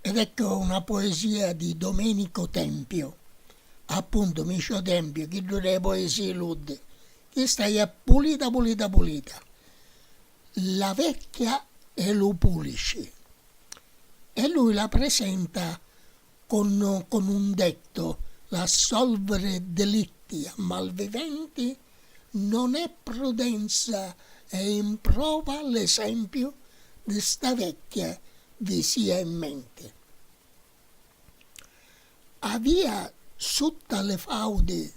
Ed ecco una poesia di Domenico Tempio, appuntu Micio Tempio, chiddu de poesie ludde, chesta ia pulita pulita pulita, La vecchia e lu pulici e lui la presenta Con con un detto l'assolvere delitti a malviventi non è prudenza e in prova l'esempiu di sta vecchia vi sia in menti. Avia sutta li faudi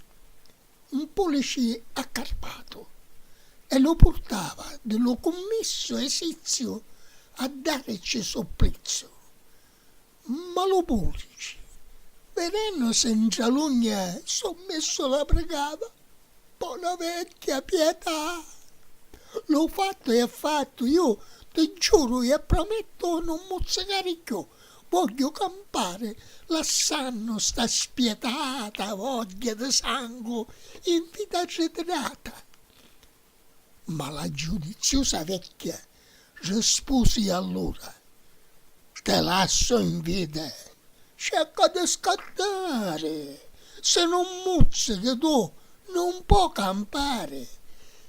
'n pulici accarpatu e lu purtava di lu cummissu esiziu a daricci supplizzu. Ma lu pulci, vedennusi 'ntra l'ugna so' missu la prigava, Bona vecchia, pietà! Lu fattu è fattu, iu ti giuru e promettu nun muzzicari cchiù, vogghiu campari lassannu sta spietata vogghia di sangu in vita arritirata! Ma la giudiziusa vecchia Rispusi allura, Te lassu in vida. Cerca di scattari, si nun muzzichi tu nun po' campari.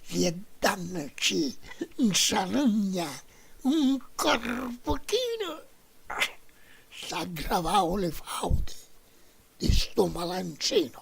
Vieddannu chi 'ntralugna un corvuchinu, s'aggravau li fauti di stu malantrinu.